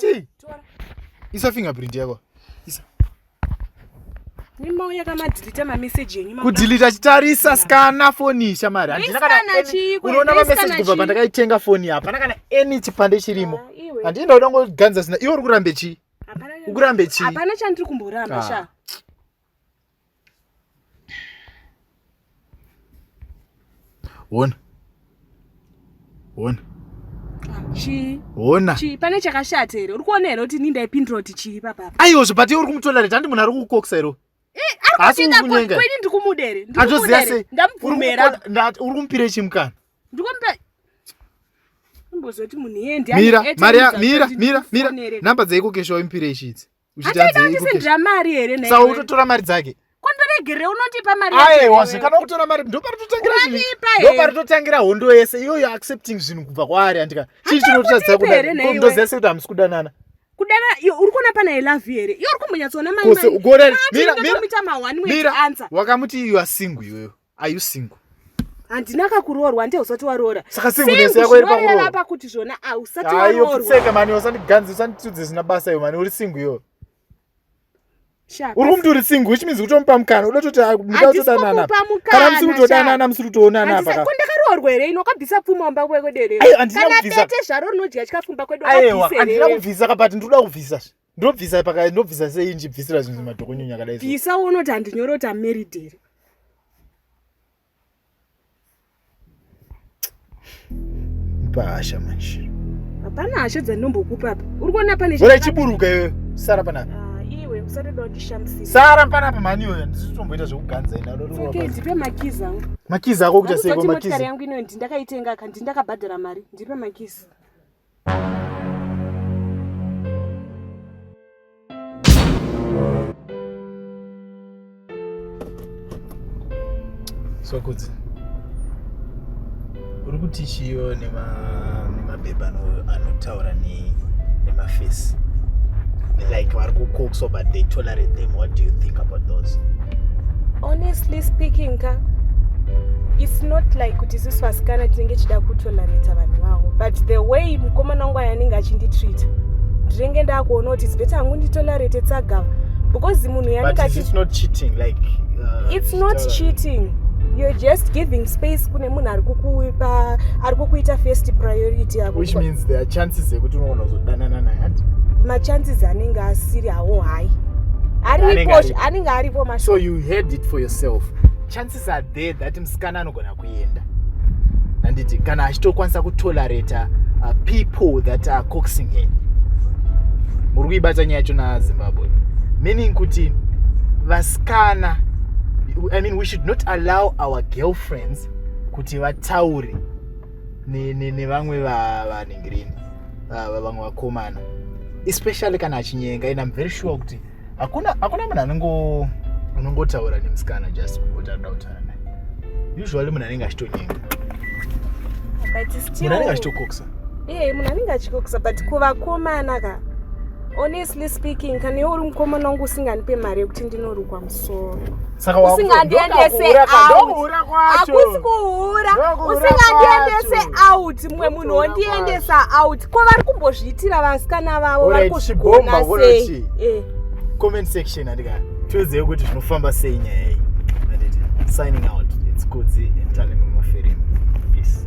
chii isa fingerprint yako isa kudhilita chitarisa skana foni shamari unoona mameseji kubva pandakaitenga foni apa hapana kana any chipande chirimo ah, handii ndauda ngoganza zina iwe uri kurambe chii ukurambe chii hapana chandiri kumboramba ah. sha hona hona chii hona chii pane chakashata here uri kuona here kuti nindaipindura kuti chii papapa aiyozve but iwe uri kumutonda rete handi munhu ari kukokisa here asiukunyengakweni ndikumuda here andoziva sei ndamubvumera uri kumupire chimukana ndikumupa imbozoti munhu yeye ndiamira mira mira mira namba dzeikokeshawo impire ichidzi uchitadzeiusindira mari here nsa utotora mari dzake kondoregerei unondipa mariaewa zvekana kutora mari ndoparitotangira hondo yese iyoyo accepting zvinhu kubva kwaari andika chii chinototadzisa kudakondoziva se kuti hamusi kudanana kudana uri kuona pana ilavi here iyo uri kumbonyatsoona maimira wakamuti you are single iyoyo Are you single? handina kakuroorwa hande usati waroora saka singuinoreva kuti zvona ausati waroorwaseka mani usandiganzi usanditudze zvisina basa iyo mani uri singu iyo uri kumti uri singu which means kutomupa mukana uda toti mudakutodananakana musiri kutodanana musiri kutoonana apa ndakaroorwa here ino kabvisa pfuma wamba kwekwederekanatete zvaro rinodya chikafu mba kwedu andina kubvisa kabati ndikuda kubvisa ndobvisa paka ndobvisa sei ndichibvisira zvinhu madhokonyunya akadai bvisa unoti handinyore kuti amarried here pahasha manje hapana hasha dzandinombokupa apa uri kuona pane ora chiburuka iwe sara panapa ah, iwe usatoda kundishamsira sara panapa mhani iyoyo handisi kutomboita zvekuganza ina okay ndipe makizi angu makizi ako kuita seiko makizi yangu inoyo ndindakaitenga ka ndindakabhadhara mari ndipe makizi Sokudzi. Uri kuti chiyo nema nemabhebha anotaura ne nemafesi. Like vari kukokswa but they tolerate them. What do you think about those? honestly speaking ka it's not like kuti isusu vasikana tinenge chida kutolaneta vanhu vavo but the way mukomana wangu aya anenge achinditreata ndinenge ndakuona kuti it's better hangu nditolarete tsagava because munhu yanenge achi- it's not cheating like uh, it's not Stella. cheating you're just giving space kune munhu ari kukupa ari kukuita first priority yako which means there are chances ekuti unogona kuzodanana naye hanzi machances anenge asiri awo hayi aripo anenge aripo mashoko so you heard it for yourself chances are there that musikana anogona kuenda handiti kana achitokwanisa kutolerata uh, people that are coxing her muri kuibata nyaya yacho nazimbabwe meaning kuti vasikana i mean we should not allow our girlfriends kuti vataure nevamwe vanhingirini uh, vamwe vakomana especially kana achinyenga and im very sure kuti hakuna hakuna munhu anongo unongotaura nemusikana just kuti anoda kutaura naye usually munhu anenge achitonyenga munhu anenge achitokokisa ee munhu anenge achikokisa but kuvakomana ka honestly speaking kana iwe uri mukomana wangu usinganipe mari yekuti ndinorukwa saka usingandiendese akusi kuhura usingandiendese out mumwe munhu wondiendesa out ko vari kumbozviitira vasikana vavo vari kuzvigona sei eh. comment section andika tiwedzei kuti zvinofamba sei nyaya iyi anditi signing out its kudzi and talent mumafirimu peace